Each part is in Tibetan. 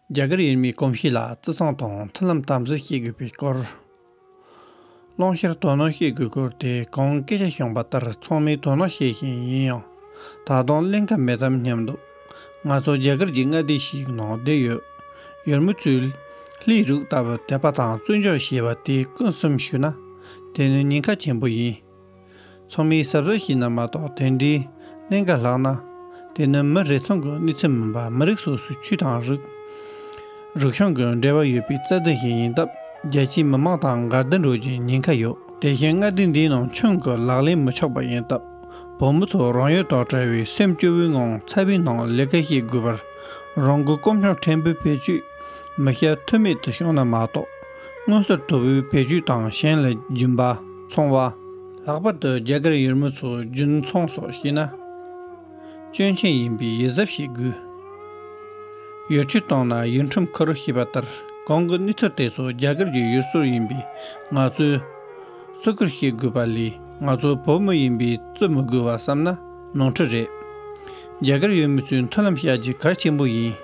རྒྱ་གར་ཡུལ་མིའི་གོམས་གཤིས་ལ་བརྩི་སྲུང་དང་མཐུན་ལམ་དམ་འཛིན་བྱེད་དགོས་པའི་སྐོར། ཀློང་བཤེར་དོ་སྣང་བྱེད་དགོས་སྐོར་དེ་གོང་སྐད་ཆ་བྱུང་པ་ལྟར་ཚང་མས་དོ་སྣང་བྱེད་བཞིན་ཡིན་ཡང། ད་དུང་གླེང་ཁ་མེད་དམ་སྙམ་འདུག་ང་ཚོ་རྒྱ་གར་གྱི་མངའ་སྡེ་ཞིག་ནང་བསྡད་ཡོད། ཡུལ་མི་ཚོས། ལྷའི་རུག་ལྟ་བུ་དད་པ་དང་བརྩོན་འགྲུས་ཞེས་པ་དེ་ཀུན་གསུམ་ཞུས་ན། དེ་ནི་ཉེན་ཁ་ཆེན་པོ་ཡིན། ཚོགས་མིའི་ཟབ་གསལ་ཞིག་ན་མ་གཏོགས་དེ་འདྲའི་གླེང་ག་ལྷག་ན། དེ་ནི་མི་རེ་ཟུང་གི་གནོད་འཚེ་མིན་པར་མི་རིགས་སོ་སོའི་ཆོས་དང་རིག་རུས་ཤང་གི་འབྲེལ་བ་ཡོད་པའི་རྩ་དོན་ཞིག་ཡིན་སྟབས་རྒྱལ་སྤྱིའི་མི་མང་དང་འགལ་ཟླ་འགྲོ་རྒྱུའི་ཉེན་ཁ་ཡོད། དེ་བཞིན་མངའ་སྡེ་འདིའི་ནང་ཁྱོན་གྱི་ལག་ལེན་མི་ཆོག་པ་ཡིན་སྟབས་བུ་མོ་ཚོ་རང་ཡུལ་དང་བྲལ་བའི་སེམས་སྐྱོ་བོའི་ངང་ཚ་བའི་ནང་ལས་ཀ་བྱེད་དགོས་པར་རང་འགུལ་སྐོམ་ཤོང་ཕྲན་བུ་བེད་སྤྱོད་མི་བྱ་ཐུ་མེད་དུ་བྱུང་ན་མ་གཏོགས། སྔོན་སོར་དོ་བོའི་བེད་སྤྱོད་དང་གཞན་ལ་སྦྱིན་པ། འཚོང་བ། ལྷག་པར་དུ་རྒྱ་གར་ཡུལ་མི་ཚོ་རྒྱུན་འཚོང་སོགས་བྱེད་ན། སྐྱོན་ཆེན་ཡིན་པས་ཡིད་གཟབ་བྱེད་དགོས། ཡོ་ཆུ་བཏང་ན་ཡུལ་ཁྲིམས་ཁ་རུ་ཞེས་པ་ལྟར་གང་གི་གནས་ཚུལ་དེ་ཚོ་རྒྱ་གར་གྱི་ཡུལ་སྲོལ་ཡིན་པས་ང་ཚོས་བརྩི་བཀུར་བྱེད་དགོས་པ་ལས་ང་ཚོ་བོད་མི་ཡིན་པས་བརྩི་མི་དགོས་བ་བསམ་ན་ནོར་འཁྲུལ་རེད། རྒྱ་གར་ཡུལ་མི་ཚོའི་མཐུན་ལམ་བྱ་རྒྱུ་གལ་ཆེན་པོ་ཡིན།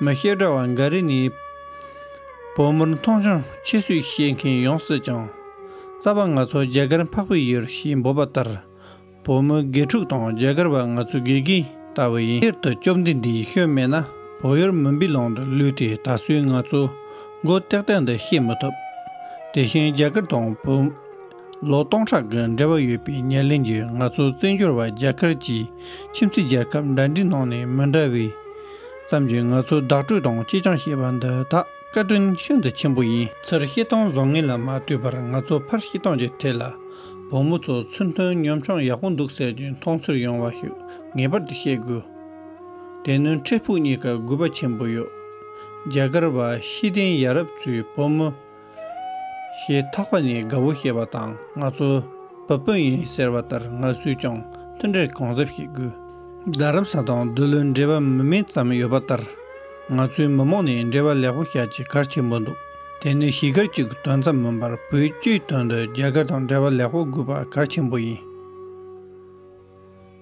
མི་བཤད་གྲྭ་བ་འགའ་རེ་ནི། བོད་མིར་མཐོང་ཆུང་ཆེ་ཤོས་བཤད་མཁན་ཡོང་སྲིད་ཀྱང། རྩ་བ་ང་ཚོ་རྒྱ་གར་འཕགས་པའི་ཡུལ་ཞེས་འབོད་པ་ལྟར། བོད་མི་དགེ་ཕྲུག་དང་རྒྱ་གར་བ་ང་ཚོའི་དགེ་རྒན་ལྟ་བུ་ཡིན། ཕྱིར་དུ་བཅོམ་ལྡན་འདས་ཡེ་ཤུ་མེད་ན་བོད་ཡུལ་མུན་པའི་ལམ་དུ་ལུས་ཏེ་ད་གཟོད་ང་ཚོས་མགོ་བཏེགས་སྟངས་འདི་ཤེས་མི་ཐུབ། དེ་བཞིན་རྒྱ་གར་དང་བོད། ལོ་སྟོང་ཕྲག་གི་འབྲེལ་བ་ཡོད་པའི་ཉེར་ལེན་གྱིས་ང་ཚོ་བཙན་བྱོལ་བ་རྒྱ་གར་གྱི་ཁྱིམ་མཚེས་རྒྱལ་ཁབ་འདྲ་འདྲའི་ནང་ནས་མི་འདྲ་བའི་ཙམ་གྱིས་ང་ཚོ་བདག་སྤྲོད་དང་གཅེས་སྐྱོང་བྱེད་པ་འདི་དག་བཀའ་དྲིན་ཤིན་ཏུ་ཆེན་པོ་ཡིན། ཚུར་བཤད་སྟངས་བཟང་ངན་ལ་མ་ལྟོས་པར་ང་ཚོ་ཕར་བཤད་སྟངས་ཀྱི་ཐད་ལ་བུ་མོ་ཚོ་ཚུར་མཐུན་གཉོམ་ཆུང་ཡག་པོ་འདུག་ཟེར་གྱི་མཐོང་ཚུལ་ཡོང་བ་ཞིག་ངེས་པར་དུ་བཤད་དགོས། དེ་ནི་འཕྲལ་ཕུགས་གཉིས་ཀ་དགོས་པ་ཆེན་པོ་ཡོད། རྒྱ་གར་བ་ཤེས་ལྡན་ཡ་རབས་ཚོའི་བུ་མོ། ཞེས་ཐག་པ་ནས་དགའ་བོ་ཞེས་པ་དང་ང་ཚོ་བ་སྤུན་ཡིན་ཟེར་བ་ལྟར་ང་སུས་ཀྱང་མཐུན་འབྲེལ་གང་གཟབ་བྱེད་དགོས། རྡ་རམ་ས་དང་བདུད་བློན་འབྲེལ་བ་མི་དམན་ཙམ་ཡོད་པ་ལྟར། ང་ཚོའི་མི་མང་ནས་འབྲེལ་བ་ལེགས་པོ་བྱ་ཆེད་གར་ཆེན་པོ་འདུག་དེ་ནི་གཞིས་སྒར་གཅིག་གི་དོན་ཙམ་མིན་པར་བོད་བཅུའི་དོན་དུ་རྒྱ་གར་དང་འབྲེལ་བ་ལེགས་པོ་དགོས་པ་གར་ཆེན་པོ་ཡིན།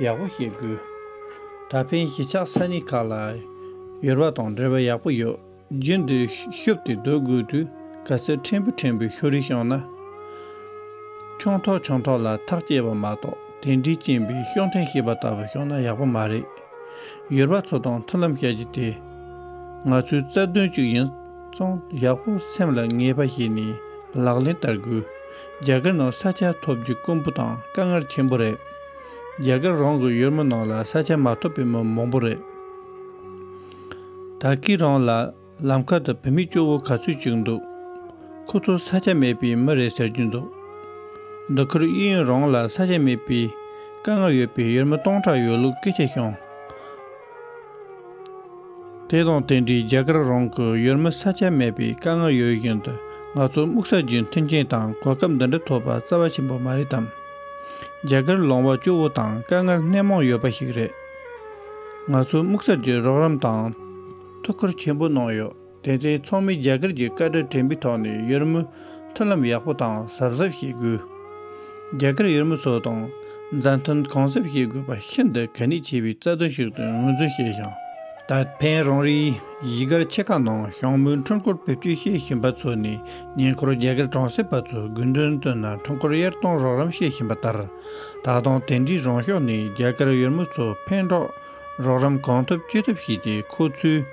ཡག་པོ་ཞིག་དགོས། ད་ཕན་གཞིས་ཆགས་ས་གནས་ཁག་ལ་ཡོལ་བ་དང་འབྲེལ་བ་ཡག་པོ་ཡོད་རྒྱུན་དུ་ཤོབ་ཏེ་སྡོད་དགོས་དུས་ག་ཚོད་ཕྲན་བུ་ཕྲན་བུ་ཤོ་རིས་བྱུང་ན། ཆུང་ཐོག་ཆུང་ཐོག་ལ་ཐག་བཅད་པ་མ་གཏོགས་དེ་འདྲའི་རྐྱེན་པས་ཤོག་འཐེན་ཤེས་པ་ལྟ་བུ་བྱུང་ན་ཡག་པོ་མ་རེད། ཡོལ་བ་ཚོ་དང་མཐུན་ལམ་བྱ་རྒྱུ་དེ་ང་ཚོའི་རྩ་དོན་གཅིག་ཡིན་ཙང་ཡག་པོ་སེམས་ལ་ངེས་པ་བྱས་ནས་ལག་ལེན་བསྟར་དགོས། རྒྱ་གར་ནང་ས་ཆ་ཐོབ་རྒྱུ་དཀོན་པོ་དང་དཀའ་ངར་ཆེན་པོ་རེད། རྒྱ་གར་རང་གི་ཡུལ་མི་ནང་ལ་ས་ཆ་མ་ཐོབ་པའི་མི་མང་པོ་རེད། ད་གིས་རང་ལ་ལམ་ཁ་དང་བུད་མེད་སྐྱོ་བོ་ག་ཚོད་ཅིག་འདུག་ཁོ་ཚོ་ས་ཆ་མེད་པའི་མི་རེད་ཟེར་རྒྱུ་འདུག་འདི་ཁུལ་དབྱིན་ཡུལ་རང་ལ་ས་ཆ་མེད་པའི་དཀའ་ངར་ཡོད་པའི་ཡུལ་མི་སྟོང་ཕྲག་ཡོད་ལུགས་སྐད་ཆ་བྱུང། དེ་དང་རྟེན་འབྲེལ་རྒྱ་གར་རང་གི་ཡུལ་མི་ས་ཆ་མེད་པའི་དཀའ་ངལ་ཡོད་བཞིན་དུ་ང་ཚོ་སྨུག་ས་རྒྱུའི་མཐུན་རྐྱེན་དང་གོ་སྐབས་འདི་འདྲ་ཐོབ་པ་རྩ་བ་ཆེན་པོ་མ་རེད་དམ། རྒྱ་གར་ལོང་བ་སྐྱོ་བོ་དང་དཀའ་ངལ་སྣེ་མང་ཡོད་པ་ཞིག་རེད། ང་ཚོའི་སྨུག་ས་རྒྱུའི་རོགས་རམ་དང་ཐུགས་ཁུར་ཆེན་པོ་གནང་ཡོད། དེ་མཚུངས་ཚོགས་མི་རྒྱ་གར་གྱི་བཀའ་ཁྲི་དྲན་པའི་ཐོག་ནས་ཡུར་མོ་མཐུན་ལམ་ཡག་པོ་དང་གཟབ་གཟབ་བྱེད་དགོས། རྒྱ་གར་ཡུར་མོ་ཚོ་དང་མཛའ་མཐུན་གང་གཟབ་བྱེད་དགོས་པ་ཤིན་ཏུ་གལ་གནད་ཆེ་བའི་རྩ་དོན་ཞིག་ཏུ་ངོས་འཛིན་བྱས་ཤིང། ད་ཕན་རང་རེའི་གཞིས་སྒར་ཆེ་ཁག་ནང་ཞང་མོའི་འཕྲུལ་འཁོར་བེད་སྤྱོད་བྱེད་བཞིན་པ་ཚོ་ནས་ཉེ་འཁོར་རྒྱ་གར་གྲོང་གསེབ་པ་ཚོས་དགོས་འདུན་བཏོན་ན་འཕྲུལ་འཁོར་གཡར་གཏོང་རོགས་རམ་བྱེད་བཞིན་པ་ལྟར། ད་དུང་དེ་འདྲའི་རང་ཕྱོགས་ནས་རྒྱ་གར་ཡུར་མོ་ཚོ་ཕན་གྲོགས། རོགས་རམ་གང་ཐུབ་ཅི་ཐུབ་བྱས་ཏེ་ཁོ་ཚོའི་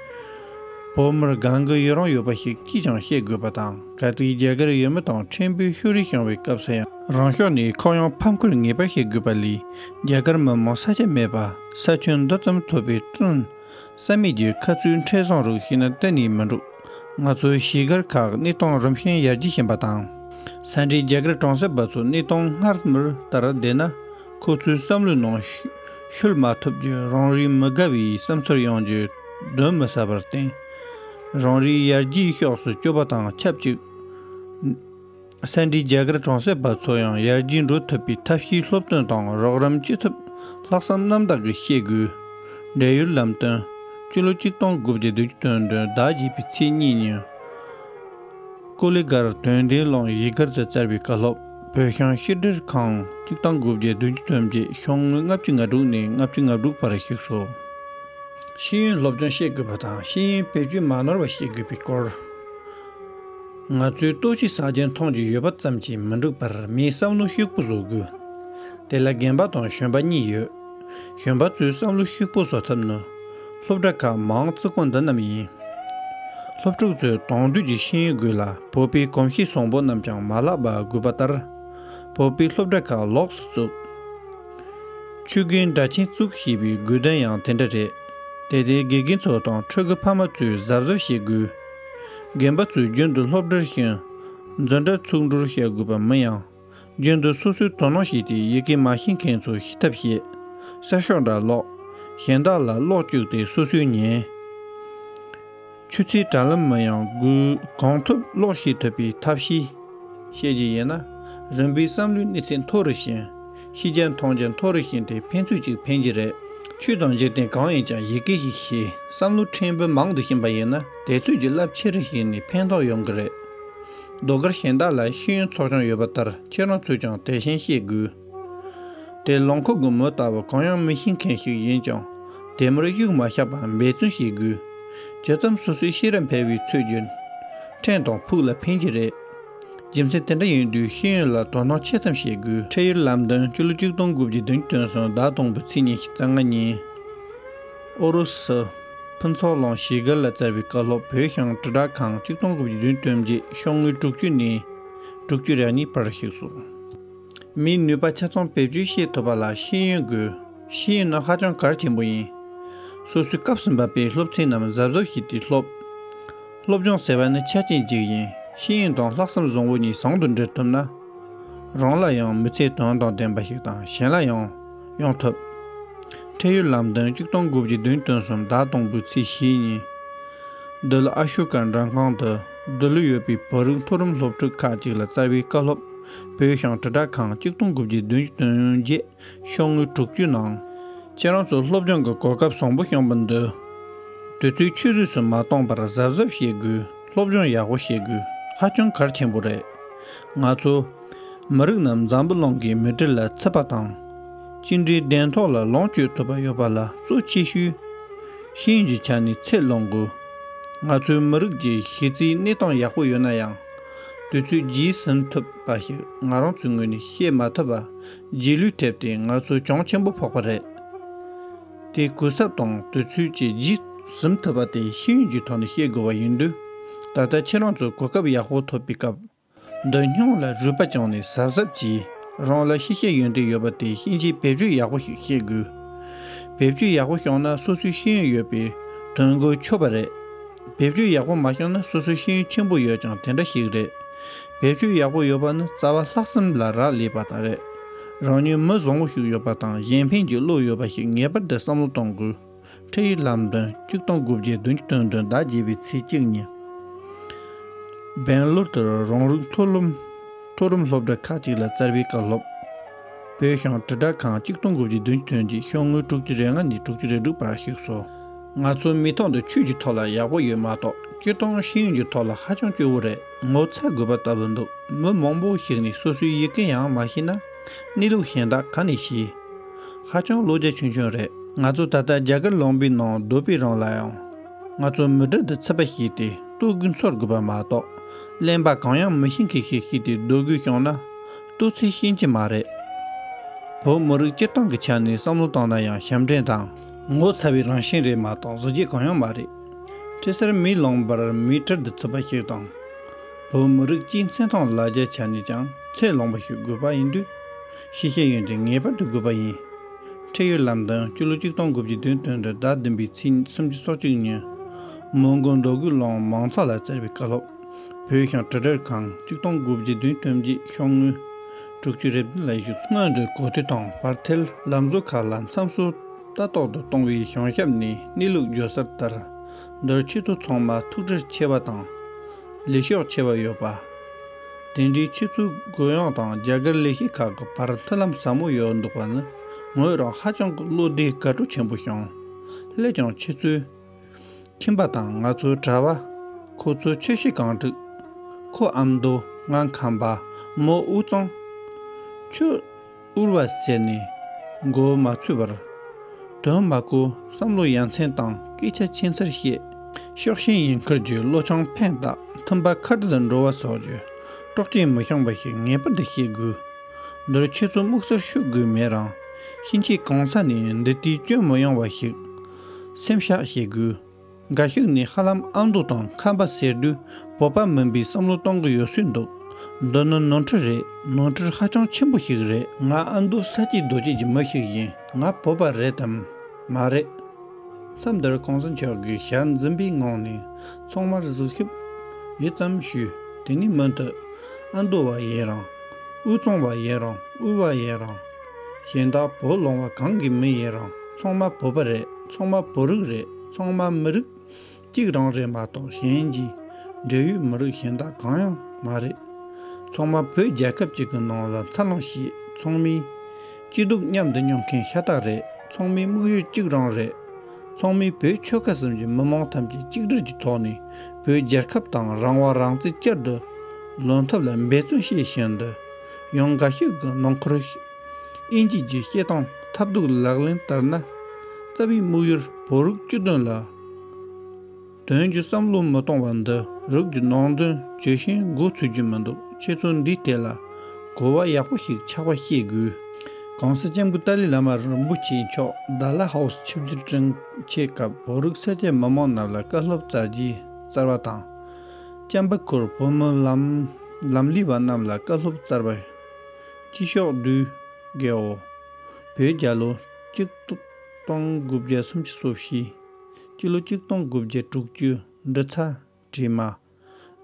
བོད་མིར་སྒང་གི་ཡུལ་རང་ཡོད་པ་ཞིག་ཅིས་ཀྱང་བཤད་དགོས་པ་དང་ག་དུས་རྒྱ་གར་ཡུལ་མི་དང་ཕྲན་བུའི་ཤུ་རིས་བྱང་བའི་སྐབས་སུ་ཡང་རང་ཕྱོགས་ནས་ཁོག་ཡངས་ཕམ་ཁུར་ངེས་པར་བྱེད་དགོས་པ་ལས་རྒྱ་གར་མི་མང་ས་ཆ་མེད་པ་ས་ཁྱོན་མདོ་ཙམ་ཐུབ་པའི་བཙོན་ས་མེད་རྒྱུའི་ཁ་ཚུལ་འཕྲལ་བཟང་རུ་ཤེས་ན་གཏན་ནས་མི་འགྲུབ་ང་ཚོའི་གཞིས་སྒར་ཁག་གནས་སྟངས་རིམ་བཞིན་ཡར་རྒྱས་བཞིན་པ་དང་ས་འབྲེལ་རྒྱ་གར་གྲོང་གསེབ་པ་ཚོ་གནས་སྟངས་སྔར་མུར་ལྟར་བསྡད་ན་ཁོ་ཚོའི་བསམ་བློའི་ནང་ཤུལ་མ་ཐུབ་རྒྱུའི་རང་རེའི་མི་དགའ་བའི་བསམ་ཚུལ་ཡོང་རྒྱུ་གདོན་མི་ཟ་བར་བརྟེན། རང་རེའི་ཡར་རྒྱས་ཕྱོགས་སུ་སྐྱོད་པ་དང་ཆབས་ཅིག་སེ་འབྲས་རྒྱ་གར་གྲོང་གསེབ་པ་ཚོ་ཡང་ཡར་རྒྱས་འགྲོ་ཐུབ་པའི་ཐབས་ཤེས་སློབ་སྟོན་དང་རོགས་རམ་བྱེད་ཐུབ་ལྷག་བསམ་རྣམ་དག་གིས་བཤད་དགོས། འབྲེལ་ཡོད་ལམ་སྟོན། སྤྱི་ལོ་གཅིག་སྟོང་དགུ་བརྒྱ་དུ་བཅུ་དོན་དོན་ཟླ་བརྒྱད་པའི་ཚེས་གཉིས་ཉིན། ཀུ་ལི་སྒར་དོན་བདེ་ཀློང་ཡིག་སྒར་རྩེ་གསར་བའི་བཀའ་སློབ་བོད་ཤང་ཤེས་འབྲེལ་ཁང་གཅིག་དང་དགུ་བརྒྱ་བདུན་ཅུ་ཐོན་རྗེས་ཤོག་ངོས་ལྔ་བཅུ་ང་དྲུག་ནས་ལྔ་བཅུ་ང་དྲུག་བར་ཞུགས་སོ། ཤེས་ཡོན་སློབ་སྦྱོང་ཤེས་དགོས་པ་དང་ཤེས་ཡོན་བེད་སྤྱོད་མ་ནོར་བ་ཤེས་དགོས་པའི་སྐོར། ང་ཚོའི་ལྟོ་གཞི་ཟ་རྒྱན་མཐོང་རྒྱུ་ཡོད་པ་ཙམ་གྱིས་མི་འགྲུབ་པར་མིའི་བསམ་བློ་ཤུགས་པོ་བཟོ་དགོས། དེ་ལ་རྒན་པ་དང་གཞོན་པ་གཉིས་ཡོད། གཞོན་པ་ཚོའི་བསམ་བློ་ཤུགས་པོ་བཟོ་ཐབས་ནི། སློབ་གྲྭ་ཁག་མང་བརྩིགས་པོ་འདི་རྣམས་ཡིན། སློབ་ཕྲུག་ཚོས་གདོང་འདུས་ཀྱི་ཤེས་ཡོན་དགོས་ལ་བོད་པའི་གོམས་གཤིས་བཟང་པོ་རྣམས་ཀྱང་མ་བརླག་པ་དགོས་པ་ལྟར། བོད་པའི་སློབ་གྲྭ་ཁག་ལོགས་སུ་བཙུགས། ཆུ་རྒན་སྦྲ་ཆེན་བཙུགས་ཞེས་པའི་དགོས་དོན་ཡང་དེ་འདྲ་རེད། དེ་ལྟའི་དགེ་རྒན་ཚོ་དང་ཕྲུ་གུ་ཕ་མ་ཚོས་གཟབ་གཟབ་བྱེད་དགོས། རྒན་པ་ཚོས་རྒྱུན་དུ་སློབ་གྲྭར་ཞུགས། འཛོན་གྲྭ་ཚུགས་འགྲོར་བྱ་དགོས་པ་མིན་ཡང། རྒྱུན་དུ་སོ་སོའི་དོ་སྣང་བྱས་ཏེ་ཡི་གེ་མ་ཤེས་མཁན་ཚོར་ཤེས་ཐབས་བཤད། གསར་ཤོག་འདྲ་ཀློག། གཞན་དག་ལ་ཀློག་བཅུག་སྟེ་སོ་སོའི་ཉན། ཆུ་ཚོད་དྲ་ལམ་མི་ཡང་སྒུལ། གང་ཐུབ་ཀློག་ཤེས་ཐུབ་པའི་ཐབས་ཤེས། བཤད་རྒྱུ་ཡིན་ན། རིམ་པས་བསམ་བློའི་གནས་ཚད་མཐོ་རུ་ཕྱིན། ཤེས་རྒྱ་མཐོང་རྒྱ་མཐོ་རུ་ཕྱིན་ཏེ་ཕན་ཚུན་གཅིག་ཕན་གཅིག་རེད། ཆོས་དང་འཇིག་རྟེན་གང་ཡིན་ཀྱང་ཡི་གེ་ཞིག་ཤེས་བསམ་བློ་ཕྲན་བུ་མང་དུ་ཕྱིན་པ་ཡིན་ན་དེ་ཚོད་ཀྱི་རླབས་ཆེ་རུ་ཕྱིན་ནས་ཕན་ཐོགས་ཡོང་གི་རེད། ཟློས་གར་གཞན་དག་ལ་ཤེས་ཡོན་ཚོགས་ཆུང་ཡོད་པ་ལྟར་ཁྱེད་རང་ཚོས་ཀྱང་དེ་བཞིན་ཤེས་དགོས། དེ་ལོངས་ཁུག་གི་མོ་ལྟ་བུ་གང་ཡང་མི་ཤེས་མཁན་ཞིག་ཡིན་ཀྱང་དེ་མུར་གཡུག་མ་ཤག་པའམ་འབད་བརྩོན་བྱེད་དགོས། ཇི་ཙམ་སོ་སོའི་ཤེས་རབ་འཕེལ་བའི་ཚུལ་བརྒྱུད། ཕྲན་དང་ཕུགས་ལ་ཕན་གྱི་རེད། རྒྱུ་མཚན་དེ་འདྲ་ཡིན་དུས་ཤེས་ཡོན་ལ་དོ་སྣང་ཆེ་ཙམ་བྱེད་དགོས། ཁྲིད་ཡུལ་ལམ་སྟོན་བཅུ་ལོ་བཅུ་སྟོང་དགུ་བརྒྱའི་དུས་སྟོན་སོན་ཟླ་དང་པོའི་ཚེས་ཉེར་གཅིག་རྩ་ལྔ་ཉིན། ཨུ་རུ་སུ། ཕུན་ཚོགས་ལོངས་ཞེས་སྒེར་ལ་བསྩལ་བའི་བཀའ་སློབ་བོད་ཤང་དྲིལ་བསྒྲགས་ཁང་གཅིག་སྟོང་དགུ་བརྒྱ་བདུན་སྟོན་བརྒྱད་ཤོག་ངོས་དྲུག་ཅུ་ནས་དྲུག་ཅུ་རེ་གཉིས་བར་གཤེགས་སུ། མིའི་ནུས་པ་ཆ་ཚང་བེད་སྤྱོད་ཤེས་ཐུབ་པ་ལ་ཤེས་ཡོན་དགོས། ཤེས་ཡོན་ནི་ཧ་ཅང་གལ་ཆེན་པོ་ཡིན། སོ་སོའི་སྐབས་སུ་འབབ་པའི་སློབ་ཚན་རྣམས་གཟབ་གཟབ་བྱས་ཏེ་སློབ། སློབ་སྦྱོང་ཟེར་བ་ནི་ཆ་རྐྱེན་གཅིག་ཡིན་ཤེས་ཡོན་དང་ལྷག་བསམ་བཟང་བོ་གཉིས་ཟང་དུ་འབྲེལ་ཐུབ་ན། རང་ལ་ཡང་མི་ཚེ་དོན་དང་ལྡན་པ་ཞིག་དང་གཞན་ལ་ཡང། ཡོང་ཐུབ། འཕྲལ་ཡུལ་ལམ་སྟོན་གཅིག་སྟོང་དགུ་བརྒྱ་བདུན་སྟོང་གསུམ་དག་སྟོང་དགུ་ཚེས་བཞི་ཉིན། འདི་ལོ་ཨ་ཤུ་ཀ་མགྲོན་ཁང་དུ་འདི་ལོ་ཡོད་པའི་བོད་རིགས་མཐོ་རིམ་སློབ་ཕྲུག་ཁག་ཅིག་ལ་རྩ་བའི་བཀའ་སློབ་བོད་ཤང་དྲིལ་བསྒྲགས་ཁང་གཅིག་སྟོང་དགུ་བརྒྱ་བདུན་བདུན་བརྒྱད་ཤོག་ངོས་དྲུག་ཅུའི་ནང། ཁྱེད་རང་ཚོ་སློབ་སྦྱོང་གི་གོ་སྐབས་བཟང་པོ་བྱུང་པོ་འདུག་དུས་ཚོད་ཆུད་ཟོས་སུ་མ་གཏོང་པར་གཟབ་གཟབ་བྱེད་དགོས་སློབ་སྦྱོང་ཡག་པོ་བྱེད་དགོས་ཧ་ཅང་གལ་ཆེན་པོ་རེད་ང་ཚོ་མི་རིགས་རྣམས་འཛམ་བུ་གླིང་གི་མི་གྲི་ལ་འཚེ་བ་དང། གཅིག་འབྲེལ་གདན་ཐོག་ལ་ལོངས་སྤྱོད་ཐུབ་པ་ཡོད་པ་ལ་གཙོ་ཆེ་ཤོས་ཤིན་གྱི་ཆ་ནས་ཚད་བླངས་དགོས། ང་ཚོའི་མི་རིགས་ཀྱི་གཞི་རྩའི་གནས་སྟངས་ཡག་པོ་ཡོད་ན་ཡང། དུས་ཚོད་རྒྱས་ཟིན་ཐུབ་པ་ཞིག་ང་རང་ཚོའི་ངོས་ནས་ཤེས་མ་ཐུབ་པ་རྗེས་ལུས་ཐེབས་ཏེ་ང་ཚོ་གྱོང་ཆེན་པོ་ཕོག་པ་རེད། དེ་གུན་གསབ་དང་དུས་ཚོད་བཅས་རྒྱས་ཟིན་ཐུབ་པ་དེ་ཤེས་ཡོན་གྱི་ཐོག་ནས་ཤེས་དགོས་པ་ཡིན་དུས། ད་ལྟ་ཁྱེད་རང་ཚོ་གོ་སྐབས་ཡག་པོ་ཐོབ་པའི་སྐབས། འདོད་སྙོམས་ལ་རུས་པ་བཅངས་ནས་གཟབ་གཟབ་ཀྱིས་རང་ལ་ཤེས་བྱའི་ཡོན་ཏན་ཡོད་པ་དེ་ཤེས་བྱའི་བེད་སྤྱོད་ཡག་པོ་ཞིག་བྱེད་དགོས། བེད་སྤྱོད་ཡག་པོ་ཤོང་ན་སོ་སོའི་ཤེས་ཡོན་ཡོད་པས་དོན་དངོས་ཆོད་པ་རེད། བེད་སྤྱོད་ཡག་པོ་མ་ཤོང་ན་སོ་སོའི་ཤེས་ཡོན་ཆེན་པོ་ཡོད་ཀྱང་དེ་འདྲ་ཞིག་རེད། བེད་སྤྱོད་ཡག་པོ་ཡོད་པ་ནི་རྩ་བ་ལྷག་བསམ་ལ་རག་ལས་པ་དང་རེད། རང་ཉིད་མི་བཟང་བོ་ཞིག་ཡོད་པ་དང་གཞན་ཕན་གྱི་བློ་ཡོད་པ་ཞིག་ངེས་པར་དུ་བསམ་བློ་གཏོང་དགོས། ཁྲིད་ཡིག་ལམ་སྟོན་གཅིག་སྟོང་དགུ་བརྒྱའི་བདུན་ཅུ་དོན་དོན་དག་བརྒྱད་པའི་ཚེས་གཅིག་ཉིན། སྦེང་ལོར་དུ་རང་རིགས་མཐོ་རིམ་སློབ་གྲྭ་ཁག་ཅིག་ལ་བསྩལ་པའི་བཀའ་སློབ། བོད་ཤང་དྲིལ་བསྒྲགས་ཁང་གཅིག་སྟོང་དགུ་བརྒྱའི་བདུན་ཅུ་དོན་བརྒྱད་ཤོག་ངོས་དྲུག་ཅུ་རེ་ལྔ་ནས་དྲུག་ཅུ་རེ་དྲུག་བར་བཞུགས་སོ། ང་ཚོ་མི་ཐོག་འདི་ཆོས་ཀྱི་ཐོག་ལ་ཡག་པོ་ཡོད་མ་གཏོགས་སྤྱིར་བཏང་ཤེས་ཡོན་གྱི་ཐོག་ལ་ཧ་ཅང་སྐྱོ་བོ་རེད་ངོ་ཚ་དགོས་པ་ལྟ་བུ་འདུག་མི་མང་པོ་ཞིག་ནས་སོ་སོའི་ཡི་གེ་ཡང་མ་ཤེས་ན་གནས་ལུགས་གཞན་དག་ག་ནས་ཤེས། ཧ་ཅང་བློ་རྒྱ་ཆུང་ཆུང་རེད། ང་ཚོ་ད་ལྟ་རྒྱ་གར་ལོངས་པའི་ནང་སྡོད་པའི་རང་ལ་ཡང། ང་ཚོ་མི་དྲག་འདི་ཚིག་པ་ཞིག་སྟེ་ལྟོ་གོས་འཚོལ་དགོས་པ་མ་གཏོགས། གླེན་པ་གང་ཡང་མི་ཤེས་མཁན་ཞིག་ཤི་སྟེ་སྡོད་དགོས་བྱུང་ན། ལྟོ་ཚིག་ཤེས་ཀྱི་མ་རེད། བོད་མི་རིགས་སྤྱིར་བཏང་གི་ཆ་ནས་བསམ་བློ་བཏང་ན་ཡང་ཞབས་འདྲེན་དང། ངོ་ཚ་བའི་རང་བཞིན་རེད་མ་གཏོགས་བཟོ་བྱེད་གང་ཡང་མ་རེད། ཁྲི་སེར་མིའི་ལོངས་པར་མི་དྲག་འདི་ཚིག་པ་ཞིག་དང། བོད་མི་རིགས་སྤྱིའི་མཚན་མཐོང་ལ་རྒྱ་ཆ་ནས་ཀྱང་ཚད་ལོངས་པ་ཞིག་དགོས་པ་ཡིན་དུས། ཤེས་བྱའི་ཡོན་ཏན་ངེས་པར་དུ་དགོས་པ་ཡིན། ཁྲེལ་ཡོད་ལམ་དང་སྤྱི་ལོ་གཅིག་སྟོང་དགུ་བརྒྱའི་དུས་སྟོན་དུ་བདག་མདུན་པའི་ཚིག་གསུམ་གྱི་སྲོག་གཅིག་ཉོན། མོན་གྷོ་མདོ་དགུའི་ལོང་མང་ཚགས་ལ་བཙིར་བའི་བཀའ་སློབ། བོད་ཤང་དྲི་བྲལ་ཁང་གཅིག་སྟོང་དགུ་བརྒྱའི་དུས་སྟོན་རྗེས་ཤོག་དངུལ། དྲུག་ཅུ་རེ་བདུན་ལ་བཞུགས་སོ། སྔོན་དུ་གོ་ཐོས་དང་བར་ཐལ་ལམ་བཟོ་ཁག་ལ་མཚམས་སྲོལ་ལྟ་རྟོག་ཏུ་གཏོང་བའི་བྱང་ཞབས་ནས་གནས་ལུགས་བརྗོད་གསར་ལྟར། མདོར་ཆེ་མཐོ་ཚང་མ་ཐུགས་ཁྲལ་ཆེ་བ་དང། ལས་ཤོག་ཆེ་བ་ཡོད་པ། དེ་འདྲའི་ཆུ་ཚོད་དགོས་ཡོང་དང་རྒྱ་གར་ལས་བྱེད་ཁག་གི་བར་མཐུན་ལམ་ཟབ་མོ་ཡོད་འདུག་པ་ནི་ངོས་རང་ཧ་ཅང་གི་བློ་བདེའི་དགའ་སྤྲོ་ཆེན་པོ་བྱུང། སླད་ཀྱང་ཁྱེད་ཚོའི་ཁྱིམ་པ་དང་ང་ཚོའི་གྲྭ་བ། ཁོ་ཚོའི་ཆོས་གཞི་གང་དྲུག། ཁོ་ཨ་མདོ་ང་ཁམས་པདྨོ་དབུས་གཙང། ཆུ། དབུལ་བ་ཟད་ནས་མགོ་བོ་མ་ཚོས་པར། དོན་མ་གོ་བསམ་བློ་ཡ་མཚན་དང་སྐད་ཆ་ཆེ་མཚར་བཤད། ཕྱོགས་ཞེན་ཡིན་ཁར་རྒྱུའི་བློ་ཆང་ཕན་དག་ཐུམ་པ་ཁ་བྲལ་འགྲོ་བ་སོགས་ཀྱི་དཀྲོག་རྐྱེན་མི་བཤང་བ་ཞིག་ངེས་པར་དུ་ཤེས་དགོས། འདིར་ཁྱེད་ཚོ་སྨུག་སར་ཤོད་དགོས་མེད་རང་གཤིན་རྗེ་གང་ས་ནས་འདི་ལྟའི་སྐྱོན་མི་ཡོང་བ་ཞིག་སེམས་བཤགས་བྱེད་དགོས། འགའ་ཞིག་ནི་ཧ་ལམ་ཨང་སྡུག་དང་ཁམས་པ་ཟེར་དུས་བོད་པ་མིན་པའི་བསམ་བློ་གཏོང་གི་ཡོད་སྲིད་འདུག་འདི་ནི་ནོར་འཁྲུལ་རེད་ནོར་འཁྲུལ་ཧ་ཅང་ཆེན་པོ་ཞིག་རེད། ང་ཨ་མདོ་ས་སྐྱའི་རྡོ་སྐྱིད་ཀྱི་མི་ཞིག་ཡིན་ང་བོད་པ་རེད་དམ་མ་རེད། མཚམས་འདིར་གོང་ས་མཆོག་གི་ཞལ་འཛིན་པའི་ངང་ནས་ཚང་མར་གཟིགས་ཞིབ་ཡུད་ཙམ་ཞུ་དེ་ནས་མུ་མཐུད་ཨ་མདོ་བ་ཡིན་རང་དབུས་གཙང་བ་ཡིན་རང་དབུས་བ་ཡིན་རང། གཞན་དག་བུ་སློང་བ་གང་གི་མི་ཡིན་རང་ཚོང་མ་བུ་པ་རེད་ཚོང་མ་བུ་རིགས་རེད་ཚོང་མ་མི་རིགས་གཅིག་རང་རེད་མ་གཏོགས་གཞན་གྱི་འབྲེལ་ཡོད་མི་རིགས་གཞན་དག་གང་ཡང་མ་རེད། ཚོང་མ་བོད་རྒྱལ་ཁབ་ཅིག་གི་ནང་ལ་འཚར་ལོངས་ཤིག་ཚོང་མིའི་སྐྱིད་སྡུག་མཉམ་དུ་མྱོང་མཁན་ཤ་སྟག་རེད་ཚོང་མིའི་དམིགས་ཡུལ་གཅིག་རང་རེད། ཚོང་མིའི་བོད་ཆོལ་ཁ་གསུམ་གྱི་མི་མང་ཐམས་ཅད་གཅིག་སྒྲིལ་གྱི་ཐོག་ནས་བོད་རྒྱལ་ཁབ་དང་རང་དབང་རང་བརྩི་བསྐྱར་དུ་ལོན་ཐབས་ལ་འབད་བརྩོན་བྱེད་བཞིན་དུ། ཡང་འགའ་ཞིག་གི་ནང་འཁོར་དབྱིན་ཇི་བརྒྱུད་བཤད་སྟངས་ཐབས་སྡུག་ལག་ལེན་བསྟར་ན། རྩ་བའི་དམིགས་ཡུལ་བོད་རིགས་སྤྱི་དོན་ལ་དོན་གྱི་བསམ་བློ་མི་གཏོང་བ་འདི་རིགས་ཀྱི་ནང་དོན་བརྗོད་བཞིན་མགོ་ཚོས་རྒྱུ་མི་འདུག་ཁྱེད་ཚོ་འདིའི་ཐད་ལ་གོ་བ་ཡག་པོ་ཞིག་ཆགས་པ་ཤེས་དགོས། གོང་ས་ལྕམ་སྐུ་ཏཱ་ལི་བླ་མ་རིན་པོ་ཆེ་མཆོག་ཟླ་ལ་ཧའོ་སི་ཆིབས་བསྒྱུར་བཀྲིན་ཆེ་སྐབས་བོད་རིགས་ས་ཆའི་མི་མང་རྣམས་ལ་བཀའ་སློབ་སྩལ་རྗེས་གསར་བ་དང། ལྕམ་པ་ཁོར་བུ་མོ་ལམ་ལམ་ལི་བ་རྣམས་ལ་བཀའ་སློབ་སྩལ་པ། སྤྱི་ཤོག་བདུན། གའོ། བོད་རྒྱ་ལོ། གཅིག། སྟོང་དགུ་བརྒྱ་སུམ་ཅུ་སོ་བཞི། སྤྱི་ལོ་གཅིག་སྟོང་དགུ་བརྒྱ་དྲུག་ཅུ། འབྲི་ཚ། བྲིས་མ།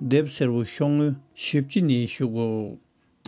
དེབ་སེར་བོ་ཤོག་ངོས། བཞི་བཅུ་ནས་བཞུགས།